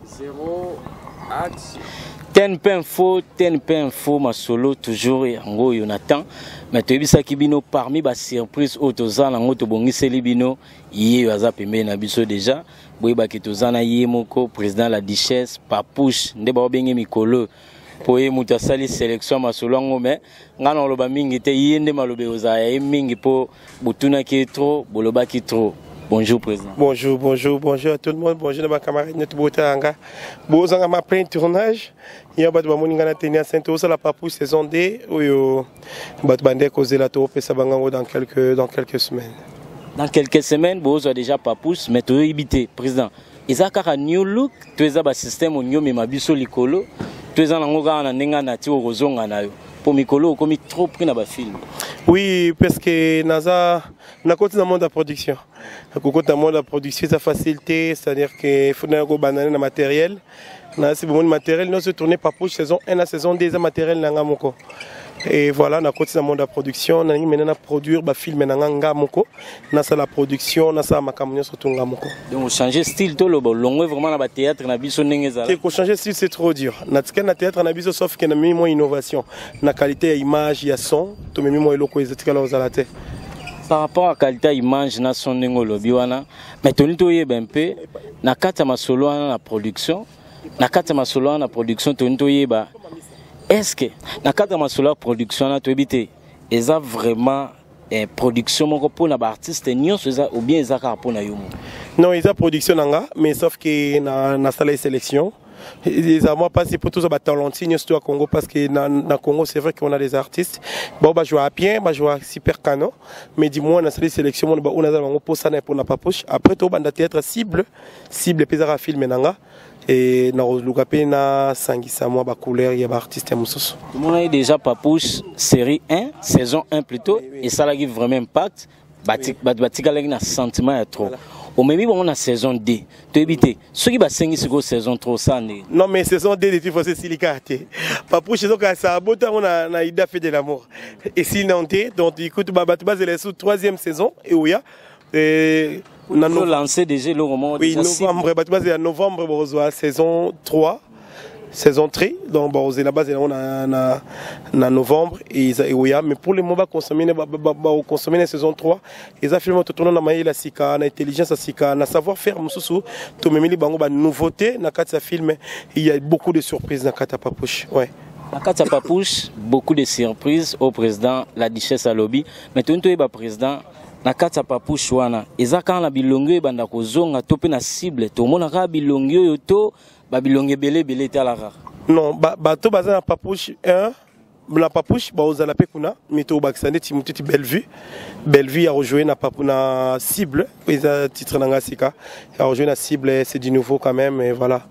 Zero action. ten mpe info ten mpe info masolo toujours yango oyo na temps mais toyebisaki bino parmi basurprise oyo toza nango tobongiseli bino ye oyo aza pembeni na biso déjà boyebaki toza na ye moko président la duchesse papouche nde baobenge mikolo mpo ye moto asali selection ya masolo yango me ngai nakoloba mingi te ye nde maloba ekozala ya ye mingi mpo botunaki ye trop bolobaki trop Bonjour président. Bonjour, bonjour, bonjour à tout le monde. Bonjour à ma camarade notre botanga. Bozanga ma plein tournage. Il y a batu bamoni ngana tenia sainte osa la papou saison 2 oyo batu bande cause la to pesa bangango dans quelques dans quelques semaines. Dans quelques semaines, bozo déjà papous mais to ibité président. eza kaka new look to eza ba système olingi omema biso likolo to eza nango kaka na ndenge na ti okozonga na yo mpo mikolo okomi trop pris na bafilme oui parce que naza nakoti na monde ya production kokota monde ya production eza facile te c'est à dire que faut nayo kobandane na matériel nasi bomoni matériel nyonso tourne par poche saison 1 na saison 2 eza matériel na ngai moko et voilà nakoti na monde ya production nalingi maintenant na produire bafilme na ngai ngai moko nasala production nasala makambo nyonso tonga moko donc changer style toloba olongwe vraiment na bathéâtre na biso ndenge ezala te kochanger style c'est trop dur natikali na théâtre na biso sauf ke namemi mwa innovation na qualité ya image ya son tomemi mwa eloko ezatikala kozala te par rapport à qualité image na son ndenge olobi wana mais toni toyeba mpe na kati ya masolo wana na production na kati ya masolo wana na production toni toyeba est ce que na kati ya masolo ya production wana toyebi te eza vraiment eh, production moko mpo na baartiste nyonso eza ou bien eza kaka mpo na yo moko non eza production na nga mais sauf que nasala ye sélection eza mwa mpasi mpo toza batalenti nyonso to ya congo parce que na, na congo c'est vrai qu'on a des artistes bao bajouaka bien bajouaka super canon mais du moins nasali sélection mona baoyo naza na bango mposana mpo na papouche après tobanda théâtre cible cible mpe ezaka filme na nga e nakoluka mpe nasangisa mwa bacouleur ya baartiste ya mosusu tomonaki déjà papouche série 1 saison 1 plutôt esalaki vraiment impact bato batikalaki na sentiment ya trop omemi bango na saison 2 toyebi te soki basengi sikoyo saison 3 osa ndenge non mais saison 2 de tifose esili kaka te papouche ezokasa abota yango na, na ida fe de la mort esili nano te donc ikutu bato bazela esu 3e saison eoya Et na no... lancer déjà le roman oui, novembre bato bazela novembre bokozwa saison 3 saison 3 donc bakozela bazela yango na, na, na novembre eza eoya mais pour le moment baconsomme bakoconsomme na saison 3 eza filme totona na mayele ya sika na intelligence ya sika na savoir faire mosusu tomemeli bango banouveauté na kati ya filme il y a beaucoup de surprises na kati ya papouche ouais. na kati ya papouche beaucoup de surprises au président la duchesse alobi mais toni toyeba président na kati ya papouche wana eza kaka na bilongi oyo ebanda kozonga to mpe na cible tomona kaka bilongi oyo to babilongi ebele ebele etala kaka non bato baza na papouche 1 na papouche baozala mpe kuna mi tokobakisa nde timu titi bellevue bellevue ya rejoue na, na cible eza titre na ngai sika ya rejoue na cible c'est du nouveau quand même et voilà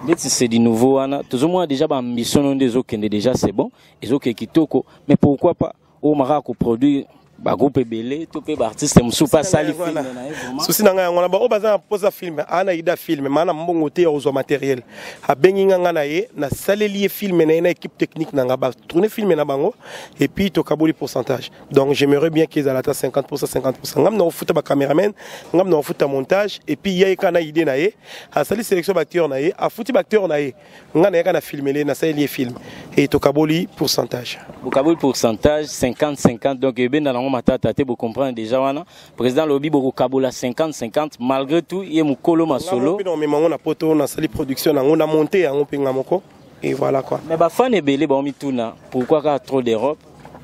ndeti c'est du nouveau wana tozomona déjà baambition no nde ezokende déjà c'est bon ezokee kitoko mais pourquoi pas oyo makaka koproduire bagroupe ebele to mpe baartiste mosusu mpe asali filme na ye susi na ngai yango wana baoyo baza na mposa filme aa na ida filme maa na mbongo te ya kozwa materiel abengi nga ngai na ye nasaleli ye filme na ye na équipe technique na ngai batourne filme na bango epuis tokaboli pourcentage donc j'aimerais bien ke ezala ata 50 posa 50 posa ngam na kofuta bacameraman ngam na kofuta montage epuis ya ye kaka na idée na ye asali sélection baacteur na ye afuti baacteur na ye nga nayaka na filmele nasaleli ye film e tokaboli pourcentage bokaboli pourcentage 50 50 donc ebenda nango matata te bocomprendre déjà wana président lobi bokokabola 50 50 malgré tout ye mokolo masolo mpe naomema yango na poto nasali production nango na monte yango mpe nga moko et voilà quoi mais bafane ebele baomituna pourquoi kaka trop d'europe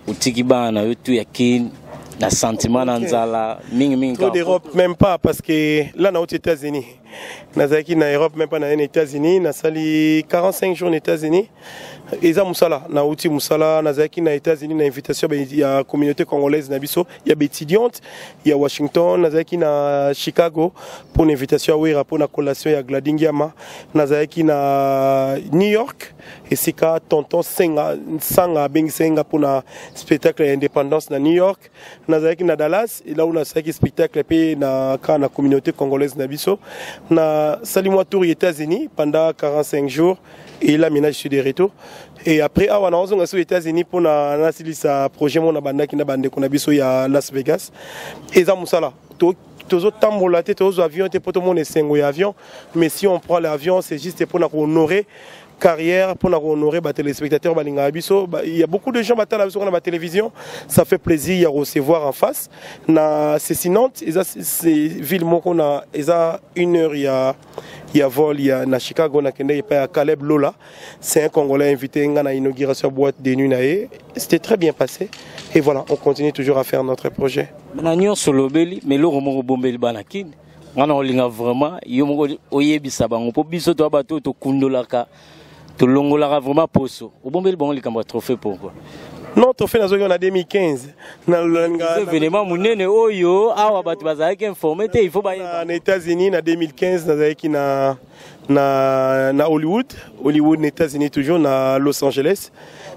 otiki bana na yo tu ya kin na sentiment na nzala mingi mingi trop d'Europe même pas parce que là na aux États-Unis nazalaki na Europe même pas na États-Unis nasali 45 jours na États-Unis eza musala na uti musala nazalaki na États-Unis na invitation ya communauté congolaise na biso ya étudiante ya Washington nazalaki na Chicago pour une invitation ya Wera pour na collation ya Gladingiama nazalaki na New York esika tonton senga nsanga abengisaki nga mpo na spectacle ya indépendance na new york nazalaki na dallas elau nasalaki spectacle mpe na ka na communauté congolaise na biso nasali mwa tour ya états-unis pendant 45 jours et là maintenant je suis de retour et après awa naozonga so états-unis mpo na nasilisa projet mona bandaki na bandeko na biso ya las vegas eza mosala tozotambola te tozozwa avion te mpo tomona esengo ya avion mais si on prend l'avion c'est juste mpona kohonore carrière pour honorer les téléspectateurs balinga biso bah, il y a beaucoup de gens batala biso la télévision ça fait plaisir de recevoir en face na c'est Nantes c'est ville moko na eza une heure il y a ya vol ya na Chicago na kende epai ya Caleb Lola c'est un congolais invité nga na inauguration boîte de nuit na ye c'était très bien passé et voilà on continue toujours à faire notre projet na nyonso lobeli mais eloko moko bombeli bana kini nga na olinga vraiment yo moko oyebisa bango mpo biso toya bato oyo tokundolaka tolongolaka vraiment poso obombeli bango likambo ya trophée pourquoi non trophée nazongi na 2015 naévénement monene oyo awa bato bazalaki informe te il faut bayeba na états-unis na 2015 nazalaki na na, na hollywood hollywood na états-unis toujours na los angeles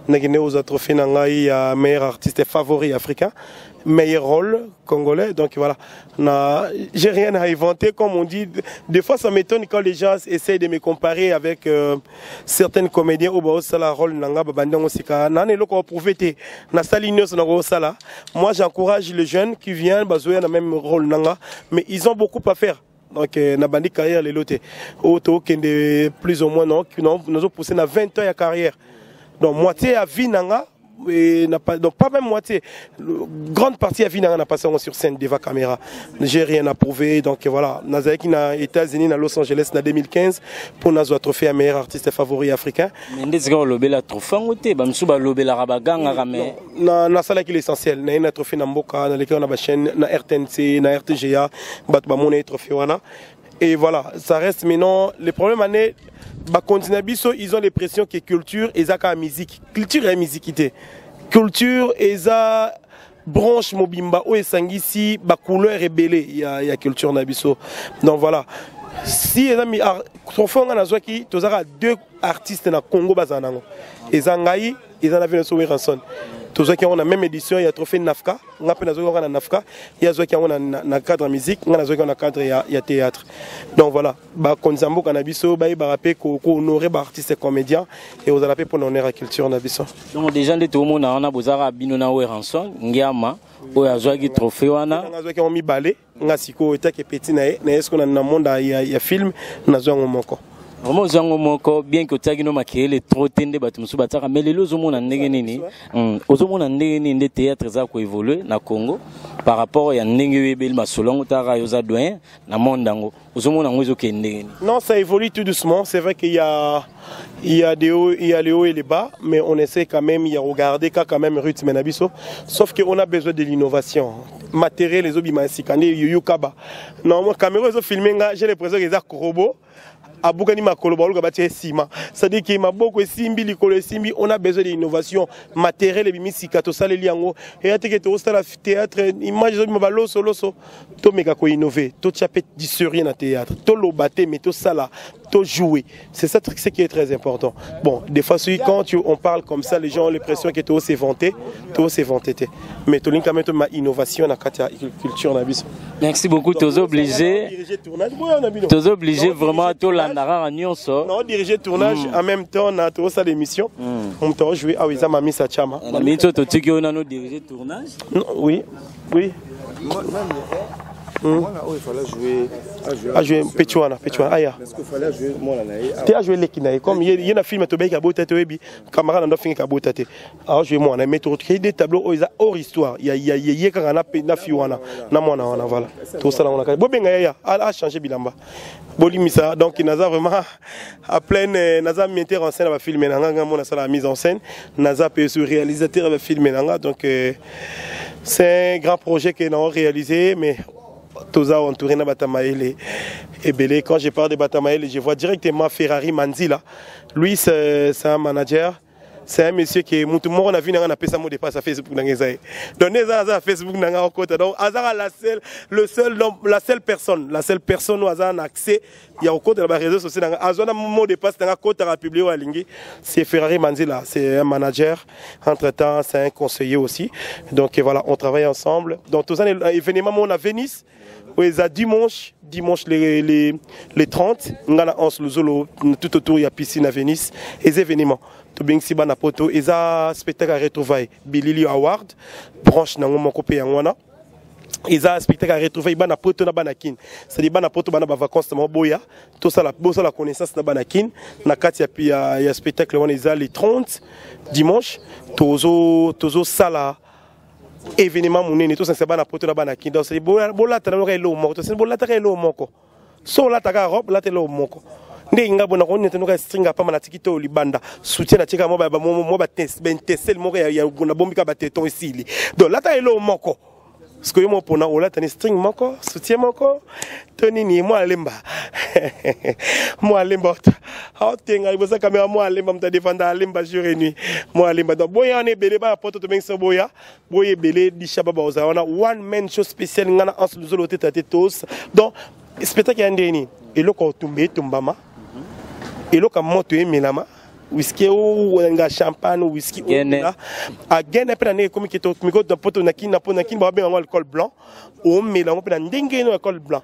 nakende kozwa trophée na ngai ya meilleur artiste favori africain meilleur rôle congolais donc voilà Non, j'ai rien à inventer, comme on dit. Des fois, ça m'étonne quand les gens essayent de me comparer avec euh, certaines comédiens au Baos Sala, rôle Nanga, Babandang Osika. Nan et loko prouvé te. Na sali news na Sala. Moi, j'encourage les jeunes qui viennent, Bazoya na même rôle Nanga. Mais ils ont beaucoup à faire. donc euh, na bandi carrière lelo te oyo oh, tokende plus ou moins non nazo pousse na 20 ans ya carrière donc moitié ya vie na nga et n'a pas donc pas même moitié le, grande partie à vie n'a passé sur scène devant caméra j'ai rien à prouver donc voilà nazali qui na États-Unis na Los Angeles na 2015 pour nazwa trophée à meilleur artiste favori africain mais ndezi ka lobela trophée ngo te ba msuba lobela ka baganga ka mais na na sala ki l'essentiel na ina trophée na mboka na leki na ba chaîne na RTNC na RTGA bato ba mona trophée wana Et voilà, ça reste maintenant. Le problème, année, bah, continue biso, ils ont l'impression que culture et zaka musique. Culture et musiquité. Culture et ça branche mobimba ou esangisi ba couleur rebelle il y a, y a culture na biso. Donc voilà. Si eza mi trophée nga nazwaki tozaka deux artistes na Congo bazana ngo. Eza ngai eza na vino so werrason tozwaki yango na même édition ya trophée nafka nga mpe nazwaki yango na nafka ye azwaki yango na cadre musique nga nazwaki yango na cadre ya, ya théâtre donc voilà bakonzi ya mboka na biso bayebaka mpe kohonore baartiste comédien e ozala mpe mpo na honore ya culture na biso donc déjà nde toomona wana bozalaka bino na weranson ngiama oyo azwaki trophée wana azwaki yango mibale nga sikoyo etake peti na ye na ye sikoyo na monde ya, ya film nazwa yango moko vraiment ozwa yango moko bien que otiaki no makelele trop te nde bato mosusu batiaka mais lelo ozomona ndenge nini hmm, ozomona ndenge nini nde théâtre eza koévolue na congo par rapport ya ndenge oyebeli masolo yango otaka yo oza doyen na monde yango ozomona yango ezokende ndenge nini non ça évolue tout doucement c'est vrai qu'il y a il y a des hauts, il y a les hauts et les bas mais on essaie quand même de regarder quand même rythme na biso sauf que on a besoin de l'innovation matériel les obima sikane yoyo kaba non moi caméra ezo filmer nga j'ai l'impression que eza robot abukani makolo baluka batia nsima cestadire ke maboko esimbi likolo esimbi on a besoin de innovation matériel ebimi sika tosaleli yango eya teke tokosala théâtre image ezobima balosoloso tomeka ko innover totia mpe du sérieux na théâtre toloba te mais tosala to jouer c'est ça ce qui est très important bon des fois soki quand tu, on parle comme ça les gens ont l'impression que too s'éventer too s'éventer te mais tolingi kame toma innovation na kati ya culture na biso merci beaucoup toza obligé toza obligé vraiment tolanda kaka nyonso na odirige tournage mm. en même temps na tokosala émission mm. moto aojouer awa eza mamisa chama na miniti oyo totiki oyo nano dirige tournage oui Oui. Hmm. ajue mpeti wana mpeti wana aya te ajue eleki na ye comme ye na filme tobeki abota te oyebi camarade na ndo afingaki abota te ajue mwana mais tokei de tableau oyo eza hors histoire ye kaka na fi wana na mwana wana voilà tosala ngo na kati bobenga yaya achange bilamba bolimisa donc naza vraiment à pleine euh, naza metteur en scène ya bafilme na nga nga mona asala mise en scène naza mpe su réalisateur ya bafilme na nga donc euh, c'est un grand projet que nous avons réalisé mais toza entouré na batamaele ebele quand je parle de batamaele je vois directement ferrari manzila lui c'est un manager c'est un monsieur qui est mutu moko na vie nanga na pesa mo dépasse à Facebook nanga eza ye donc ne eza aza Facebook nanga okota donc azaka la seule le seul donc la seule personne la seule personne oyo aza na accès ya kokota na bareseau sociaux na ngai azwa na mot de passe na ngai akotaka publie oyo alingi c'est ferrari manzila c'est un manager entre temps c'est un conseiller aussi donc voilà on travaille ensemble donc toza na événement moko na venise oyo eza dimanche dimanche les, les, les 30 ngai na anse luzolo tout autour ya piscine na venise eza événement tobengisi bana poto eza spectacle ya retrouvaille bilili award branche na yango moko mpe yango wana eza spectacle ya retrouvaille bana poto na bana kin c'est-à-dire bana poto bana ba vacances na boya tosala bosala connaissance na bana kin na kati ya, ya, ya spectacle wana eza le 30 dimanche tozo tozo sala événement monene tosanisa bana poto na bana kin donc bolatana moko eloo moko tosanisi bolataka eloo moko so olata kaka robe lata eloko moko ndenge nga bona ko nete noka string apama na tiki to libanda soutien na tika mo ba mo ba test ben testel moko ya ya na bombi ka ba teton isili donc lata elo moko siko yo mopona olata ni string moko soutien moko to nini mwa alemba mwa alemba aotenga libosa kamera mwa alemba moto adefanda alemba jour et nuit mwa alemba donc boya wana ebele bana poto tobengi so boya boye ebele dishaba baoza wana one man show spécial nga na anse luzolo oteta te tos donc spectacle ya ndenge nini eloko otumba etumbama eloko ya moto emelama whisky owenga champagne whisky owenga agene mpe na ndenge ekomi kete okomi koda mpo to na kini na mpo na kini babenga yango alcool blanc omela yango mpe na ndenge eno alcool blanc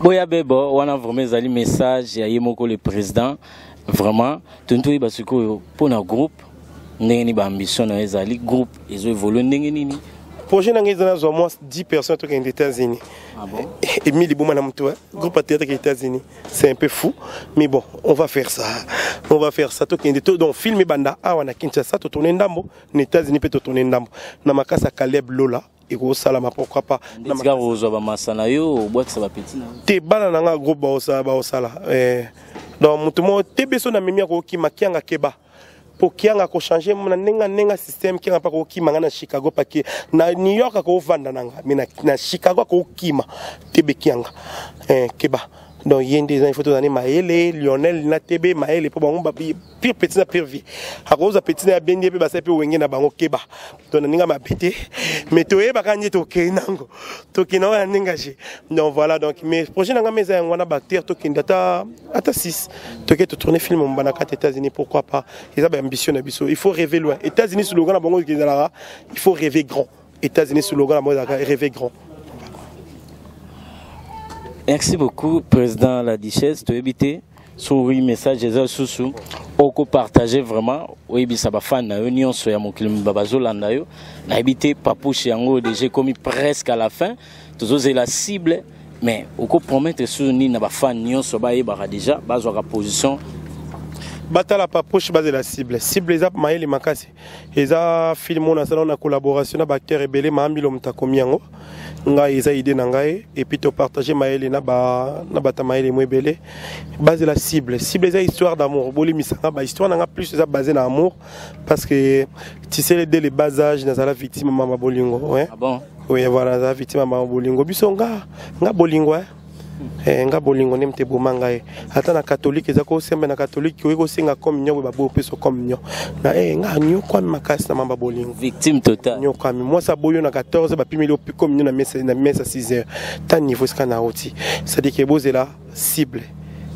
boya bebo wana vraiment ezali message ya ye moko le président vraiment toni toyeba sikoyo mpo na groupe ndenge nini baambition na yo ezali groupe ezo évolue ndenge nini projet na ngai eza nazwa mwa 10 personnes tokende états-unis ah bon? emi liboma na moto groupe ya théâtre ya états-unis c'est un peu fou mais bon on va faire ça on va faire ça tokende to donc film ebanda awa na kinshasa totourne ndambo na états-unis mpe totourne ndambo na makasi ya caleb lola ekosalama pourquoi pas tika kozwa bamasa na yo obwakisa bapeti na te bana na ngai groupe baosala baosala eh, donc moto moko te biso na mimi akokima kianga keba mpo kianga akochange na ndenge na ndenge système kianga mpe akokima ngai na chicago pake na new york akofanda na ngai mai na chicago akokima tebe kianga eh, keba donc ye nde eza ifo tozali mayele lionel na tebe mayele mpo bango pire petit na pire vie akozwa petit na ya benge mpe basali mpe wenge na bango keba to na ndenge mabe te mais toyebaka nde tokei nango tokei nango na ndenge je donc voilà donc mais projet na ngai eza yango wana bacteur tokende ata ata 6 tokei totourne film mombana kati états-unis pourquoi pas eza baambition na biso il faut rêver loin états-unis slogan na bango ezalaka il faut rêver grand États-Unis slogan na bango ezalaka rêver grand. Merci beaucoup président la duchesse toyebi te soki message eza lisusu oko partager vraiment oyebisa bafani na yo nyonso ya mokili mobimba bazolanda yo nayebi te papouche yango deja ekomi presque à la fin tozozela cible mais oko promettre lisusu nini na bafani nyonso bayebaka deja bazwaka position batala papouche bazela cible cible eza mayele makasi eza film oyo nasala na collaboration na baacteur ebele maambilo moto akomi yango ngai eza idée na ngai epuis topartage mayele na bata mayele mo ebele bazela cible cible eza histoire d'amour bolimisa nga bahistoire na nga plus eza base na amour parce que tisele de le bas âge nazala victime mama bolingo ouais. ah bon? oui voilà nazala victime mama bolingo biso nga nga bolingo eh? eh, nga bolingo nde mte eboma ngai ata na katolike eza kosembe na katolike oye kosenga communion boye baboyi opeso communion na e eh, nga anyokwami makasi na mamba bolingo victime total nyokwami mwasi aboyi yo na 14 bapimeli yo communion na mesa na mesa 6 heures ta niveau esika na oti c'est-à-dire que bozela cible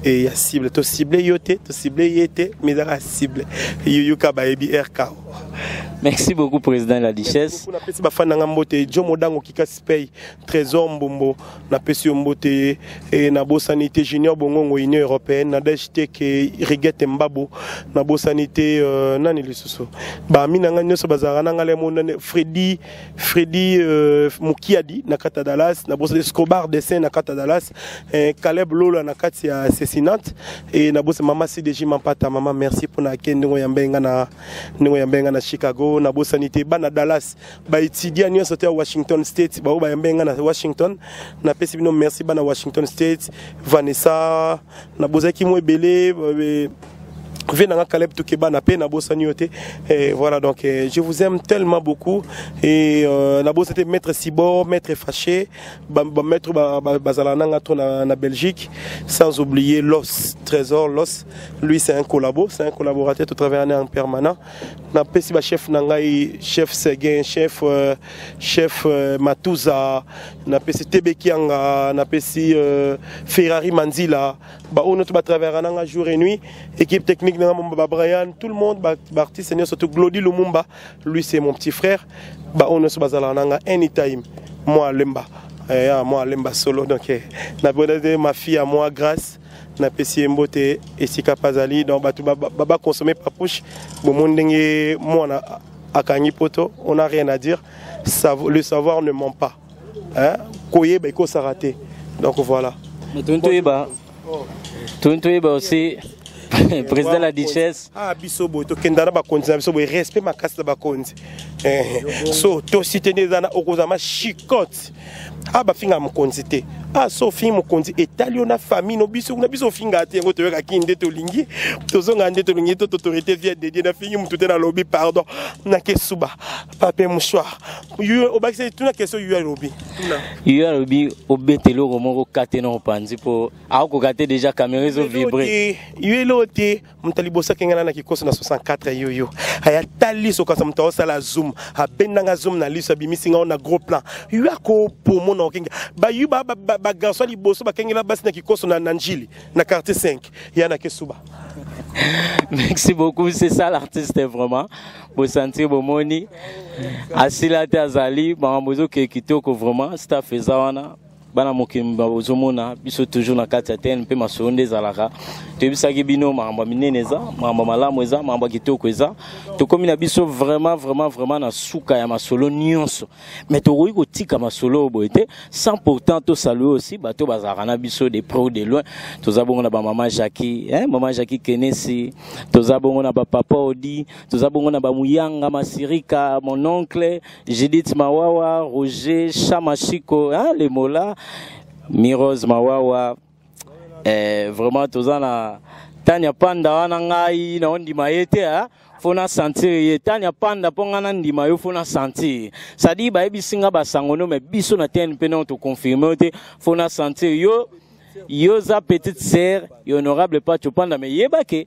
e ya cible to cible yo te to cible ye te mais ezaka cible yoyoka bayebi rko merci beaucoup président la duchesse napesi bafani na ngai mbote jo modango kika spey trésor mbombo napesi yo mbote e, nabosani te junior bongongo union européenne nadège teke rigete mbabo nabosani te euh, nani lisusu bami na ngai nyonso bazalaka na ngai lemonane fredi fredi euh, mokiadi na kati ya dallas nabosani scobar dessin na kati ya dallas eh, caleb lola na kati ya sesinante e nabosani mama cdg mampata mama merci mpona ake ndenge oyambe ngai na ndenge oyambe ngai na chicago nabosani te bana dallas baetudia nyonso te ya washington state baoyo bayambe ngai na washington napesi bino merci bana washington state vanessa na bozalaki mwa ebele eh, vie nanga Caleb Tukebana pe na bosani yo te et voilà donc eh, je vous aime tellement beaucoup et euh, na bosete maître Sibor maître Fâché ba, ba maître ba, ba, bazala nanga to na, na Belgique sans oublier Los Trésor Los lui c'est un collabo c'est un collaborateur tout travaille en permanent napesi bachef na ngai chef seguin chef euh, chef euh, matuza napesi tebekianga napesi euh, ferrari manzila baoyo nyonso batravera na ngai jour et nuit équipe technique na ngai babrian tout le monde baartiste ba nyonso to glodi lumumba lui c'est mon petit frère baoyo nyonso bazalaka na ngai anytime moi lemba eh, ah, moi lemba solo donc eh, nabonade ma fille à moi grâce napesi ye mbote esika mpe azali donc bato baconsomme papouche bomoni ndenge mwana akangi poto on a rien à dire le savoir ne ment pas koyeba ekosaka te donc voilà toni toyeba toni toyeba aussi eh, président la duchesse ah biso boye tokenda na bakonzi na biso boye respect makasi na bakonzi eh, so tosite nde eza na okozama chicote ah bafinga mokonzi te ah so ofingi mokonzi etali yo na famille no biso kuna biso ofingaa te yango toyoka kini nde tolingi tozonga nde tolingi to totorité vie dedie nafingi motu te nalobi pardon nakesuba pape mouchoir obakisa tuna question yu alobi yu alobi obeta eloko moko kate na opanzi mpo akokoka te déjà camera ezovibre yu eloo te moto liboso akenge na na kikoso na 64 yoyo aya tali sokasa moto aosala zoom abenda nga zoom na liso abimisi nga na gros plan yo akopomo na okenge bayu bagarso liboso bakengela basi na kikoso na njili na quartier 5 ya na kesuba merci beaucoup c'est ça l'artiste vraiment bosantir bomoni asila te azali makambo ezokee kitoko vraiment staff eza wana bana mokili bozomona biso toujours na kati ya tene mpe masolo nde ezalaka toyebisaki bino makambo ya minene eza makambo ya malamu eza makambo ya kitoko eza tokómi na biso vraiment vraiment vraiment na suka ya masolo nyonso mais tokoki kotika masolo oyo boye te sans pourtant tosalue aussi bato bazalaka na biso de près ou de loin toza bongo na bamama jacki eh, mama jacki kenesi toza bongo na bapapa odi toza bongo na bamuyanga masirika mon oncle Judith Mawawa, Roger Chamachiko, hein, les mots là, Mirose Mawawa, eh, vraiment toza na Tanya Panda wana ngai na ondima ye te hein? fo na sentir ye tanya panda mpo ngai nandima yo fo na sentir sadi bayebisi ngai basango no me biso na tnp nao toconfirme yo te fo na sentir yo yo oza petite sœur ya honorable pacho panda me yeba ke